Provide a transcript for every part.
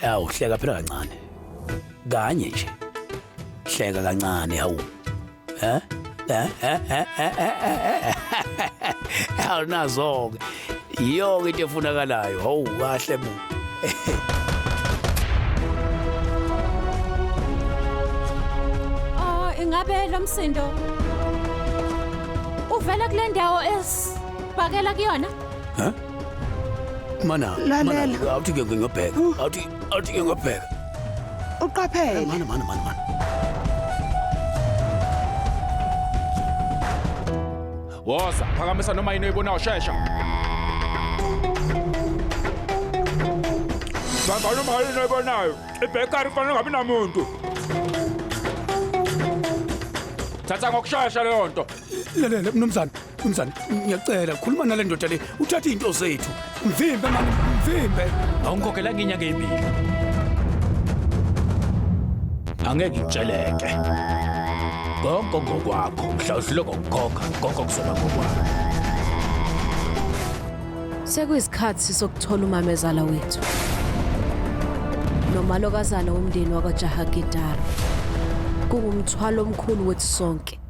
Yawu hleka phela kancane. Kanye nje. Hleka kancane hawu. Eh? Eh eh eh eh. eh, eh. Awunazo ke. Yiyo ke into efunakalayo. Hawu kahle bu. Oh, ingabe lo msindo uvela kule ndawo esibhakela kuyona? Huh? Mana, Lalela. mana, awuthi ke ngiyobheka. Awuthi awuthi ke ngiyobheka. uqaphele Mana, mana, mana, mana. Woza, phakamisa noma yini oyibonayo shesha. Bamba noma yini oyibonayo. Ibhekari fanele ngabi namuntu. Thatha ngokushesha leyo nto. Lalela mnumzane, Mnumzane, ngiyacela khuluma nale ndoda le, uthatha izinto zethu. Mvimbe mani, mvimbe. Awungikhokhela ngenyanga emini. Angeke ngitsheleke. Konke ngokwakho, mhla uhlule ngokukhokha, konke kuzoba ngokwakho. Sekuyisikhathi sokuthola umamezala wethu. Nomalokazana womndeni wakwaJahagidara. Kungumthwalo omkhulu wethu sonke.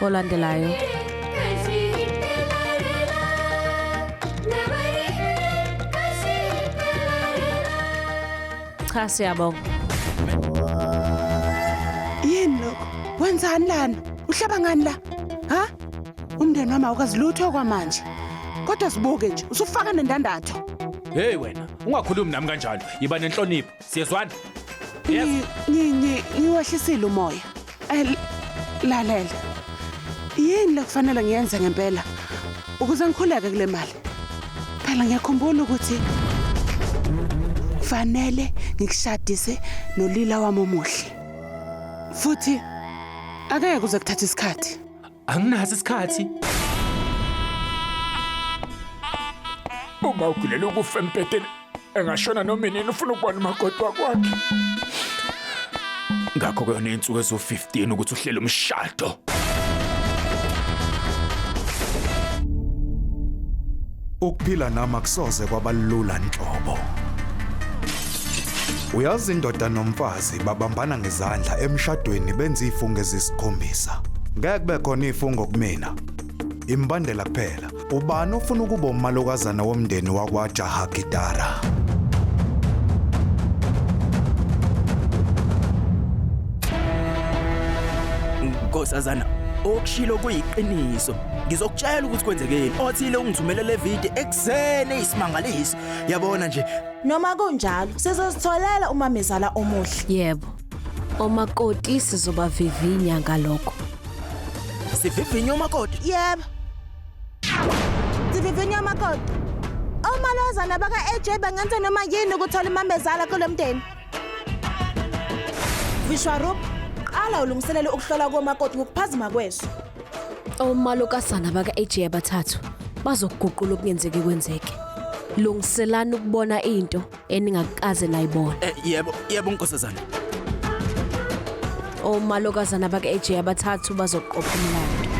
olandelayo cha siyabonga yini lokho wenzani lana uhlaba ngani la ha umndeni wami awukazi lutho kwamanje kodwa sibuke nje usufaka nendandatho Hey wena, ungakhulumi nami kanjalo. Yiba nenhlonipho. siyezwana yes Ngi- ngi- ngi- ngiwehlisile umoya Eh, l- lalela yini lekufanele ngiyenze ngempela ukuze ngikhuleke kule mali phela ngiyakhumbula ukuthi fanele ngikushadise nolila wami omuhle futhi akeke kuze kuthatha isikhathi Anginaso isikhathi. Uma ugulela ukufa empeteni engashona noma inini ufuna ukubona umakoti wakwakhe. Ngakho ke unensuku ezo-15 ukuthi uhlele umshado. Ukuphila nami akusoze kwabalula nhlobo. Uyazi indoda nomfazi babambana ngezandla emshadweni benza ifunge zisikhombisa. Ngeke kube khona ifungo kumina. Imbandela kuphela. Ubani ofuna ukuba umalokazana womndeni wakwa Jaha Gitara? Nkosazana, okushilo kuyiqiniso. ngizokutshela ukuthi kwenzekeni othile ungithumele le video ekuseni isimangaliso yabona nje noma kunjalo sizozitholela umamezala omuhle yebo omakoti sizobavivinya ngalokho sivivinya umakoti yebo sivivinya umakoti omalozana baka-aj bangenza noma yini ukuthola umamezala kulo mndeni Vishwarup, qala ulungiselele ukuhlola komakoti ngokuphazima kweso. Omalokazana baka-AJ abathathu bazoguqula okungenzeki kwenzeke. Lungiselani ukubona into eningakaze nayibona. Eh, yebo yebo nkosazana Omalokazana baka-AJ abathathu bazoqopha umlando.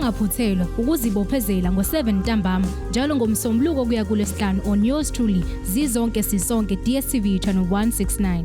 ungaphuthelwa ukuzibophezela ngo-7 ntambama njalo ngomsombuluko kuya kulesihlanu on yours truly zizonke sisonke dstv channel 169